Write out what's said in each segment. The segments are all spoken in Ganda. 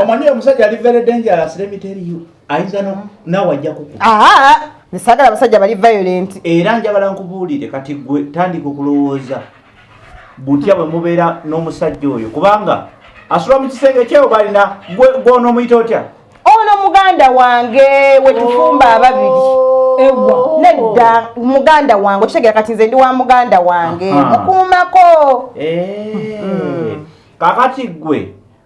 omanyi omusajja ali very dangerous let me tell you ayinza no mm. nawe ajja kukuba aha nsagala abasajja bali violent era njagala nkubuulire kati gwe tandika okulowooza butya bwe mubeera n'omusajja oyo kubanga asula mu kisenge kyewo balina gwona omuyita otya ono muganda wange wetufumba oh. ababiri ewa nedda muganda wange okitegera kati nze ndi wa muganda wange mukuumako eh. mm. kakati gwe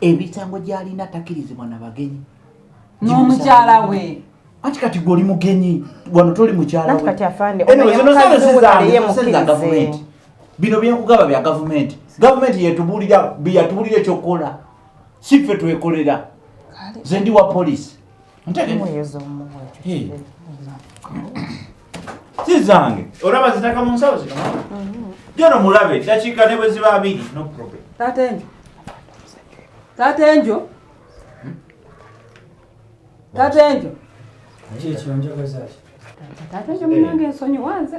emisango gyalina takirizibwa na bagenyi n'omukyala we anti kati gwe oli mugenyi wano toli mukyalagavumenti bino byenkugaba bya gavumenti gavumenti yatubulira yatubulira ekyokukola si ffe twekolera ze ndi wa polisi ntegee si zange olaba zitaka mu nsawo zino jono mulabe dakiika ne bwe ziba abiri no problem taata enjo taata enjo taata enjo kyekyo njagazaki taata enjo munange ensonyi wanze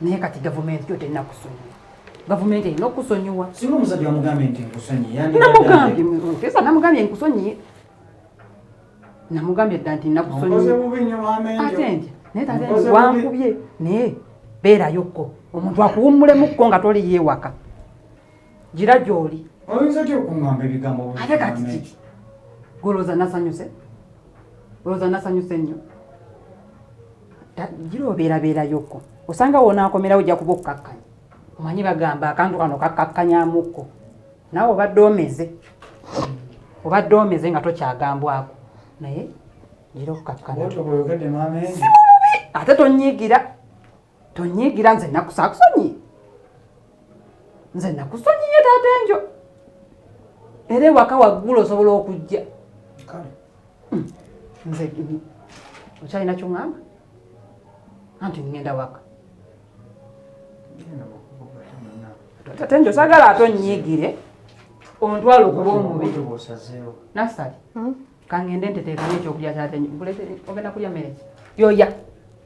naye kati gavumenti yo terina kusonyiwa gavumenti erina okusonyiwa singa omusajja wamugambye nti nkusonyiyenamugambye nkusonyiye namugambye dda nti nakusonyiyeate nti naye tate wankubye naye beerayokko omuntu akuwummulemukko nga toli yeewaka gira gyoli oyinza ty okuamba ebigambo ate kati kiki golowooza nasanyuse olowooza nasanyuse nnyo gira obeerabeerayokko osanga wonaakomerawo ojja kuba okukkakkanya omanyi bagamba akantu kano kakkakkanyamuko naawe obadde omeze obadde omeze nga tokyagambwako naye gira okukkakkana ate tonyiigira tonyiigira nze nakusakusonyi nze nakusonyiye taata enjo era ewaka waggulu osobola okujja Hmm. nze okyalina kyoŋamba anti ŋŋenda waka tate nti osagala ate onyiigire ontwala okuba omubi nasali hmm? kangende nteteekamu ekyokulya kyate ogenda kulya mereki yoya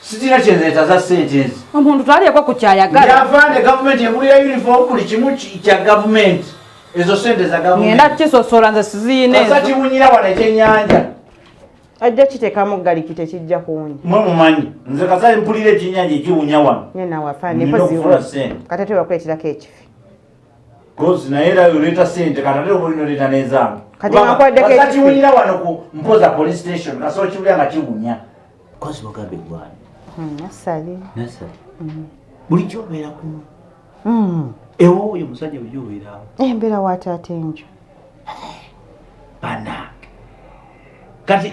sitira kyenzeta za sente ezi omuntu twaliyeko ku kyayagala yava ne gavumenti egulira uniform buli kimu kya gavumenti ezo sente za gavumenti ngenda kisosola nze siziyina ezo kasa kibunyira wano ekyenyanja ajja kitekamu galiki tekijja kuwunya mwe mumanyi nze kasa mpulira ekyenyanja ekiwunya wano nyenawafanekati tebakuletirako ekifi Kozi naye era yoleta sente kana lero bwino leta nezange. Kati nakwade kete. Kati wulira wano ku mpoza police station kaso kibuya nga kibunya. Kozi mugambe gwani. Hmm, nasali. Nasali. Hmm. Buli kyo bera ku. Hmm. Ewo oyo musajja bujyo bera. Eh mbera wata atenjo. Bana. Kati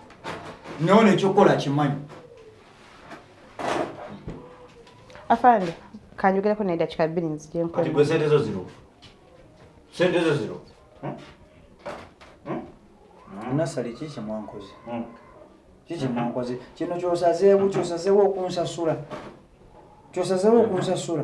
naona ekyokukola kimanyi afande kanjogereko naye dakika bbiri nzije nkati gwe sente zo ziro sente zo ziro hmm? Hmm? Hmm? nasali ki kyemwankoze ki kyemwankoze kino kyosazeewo kyosazeewo okunsasula kyosazeewo okunsasula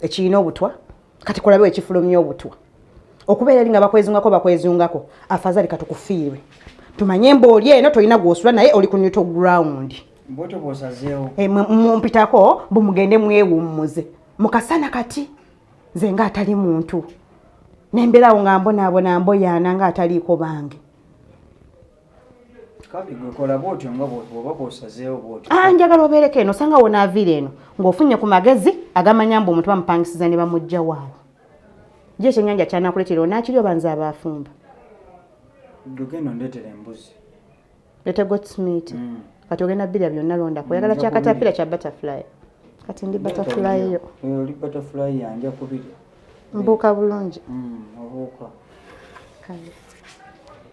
ekirina obutwa kati kulabe ekifulumya obutwa okubeera eri nga bakwezungako bakwezungako afazali katukufiirwe tumanye embooli eno tolina gwosula naye oli ku neutral ground eh, mumpitako bumugende mwewummuze mukasana kati nze nga atali muntu nembeerawo nga mbonaabona mboyaana nga ataliiko bange Ah, njagala obeereko eno osanga wonaaviira eno ng'ofunye ku magezi agamanya mbu omuntu bamupangisiza ne bamujja waawo gye ekyenyanja kyanakuleetera onaakiri oba nze abaafumba letegotmit mm. kati ogenda birya byonna londako oyagala mm, kyakatapira kya butterfly kati ndi butterfly yo mbuuka bulungi mm,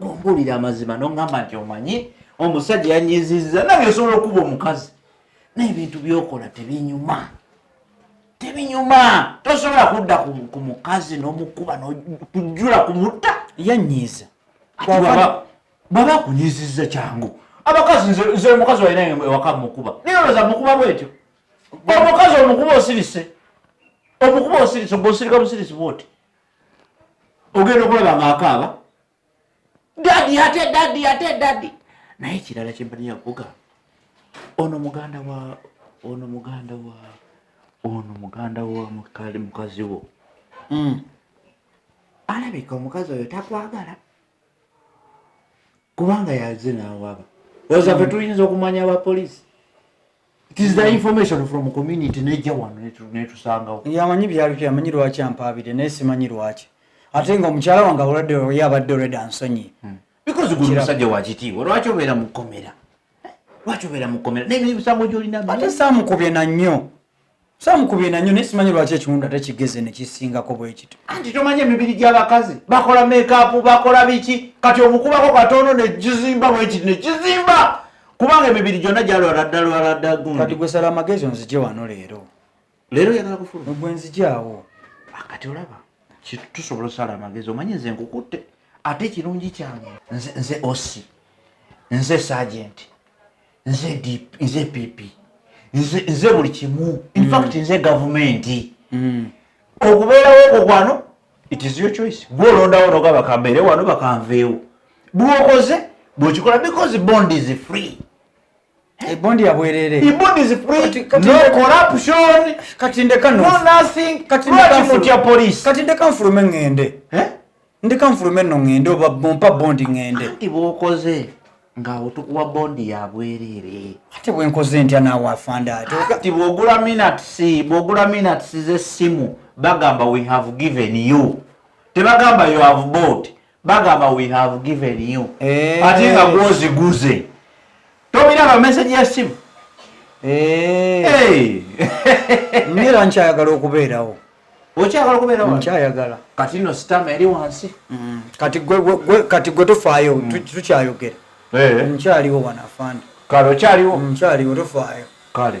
ombuulira amazima noŋŋamba nti omanyi omusajja yanyiziza nawe osobola okuba omukazi naye ebintu byokola tebinyuma tebinyuma tosobola kudda ku mukazi nomukuba nokujula ku mutta yanyiiza bwaba akunyiziza kyangu abakazi nze omukazi walina ewaka mukuba naye oloza mukuba bwetyo omukazi omukuba osirise omukuba osirise gwe osirika busirisi bwoti ogenda okulaba nga akaaba dadi ate dadi ate dadi naye ekirala kyempaniya kuga ono muganda wa ono muganda wa ono muganda wa mukali mukazi wo hmm. alabika omukazi oyo takwagala kubanga yaze nawaba oza fe hmm. tuyinza okumanya abapoliisi yamanyi byalipy amanyi lwaki ampaabire naye simanyi lwaki ate nga omukyala wange abulwadde ye abadde olweda nsonyi hmm. because guli musajja wakitiibwa lwaki obeera mukomera lwaki obeera mukomera naye emisango gyolina ate samukubye nannyo samu kubiina nyo naye simanyi lwaki ekiwunda tekigeze nekisingako bwekito anti tomanyi emibiri gyabakazi bakola mekapu bakola biki kati omukubako katono nekizimba bwekiti nekizimba kubanga emibiri gyonna gyalwaladdalwaladda gundi gwesala amagezi onzije wano leero leero yagala kufuluma gwe nzijaawo ah, kati olaba tusobola osala amagezi omanyi nze nkukutte ate ekirungi kyange nze osi nze sajenti nze DP, nze PP, nze, nze buli kimu in mm. fact nze gavumenti mm. okubeerawo okwo kwano it is your choice gwe olondawo noga bakambeere wano bakanveewo bwokoze bwekikola because bond is free ebondi eh, yabwerere ebondi is free kati, no corruption kati ndeka no, no nothing kati ndeka mutya police kati ndeka mfulume ngende eh ndeka nfulume no ngende oba bompa bondi ngende anti bwokoze ngaawo tukuwa bondi ya bwereere ate bwenkoze ntya naawe afanda ate ti bwogula minats bwogula minats z'essimu bagamba we have given you tebagamba you have bought bagamba we have given you eh. ate nga gwoziguze tobiraba meseji y'essimu eh. era nkyayagala okubeerawo okyagala okubeera wa nkyayagala kati no sitama eri wansi mm. kati gwe gwe kati gwe tofaayo mm. tukyayogera eh nkyaliwo wana afande kale okyaliwo mm, nkyaliwo tofaayo kale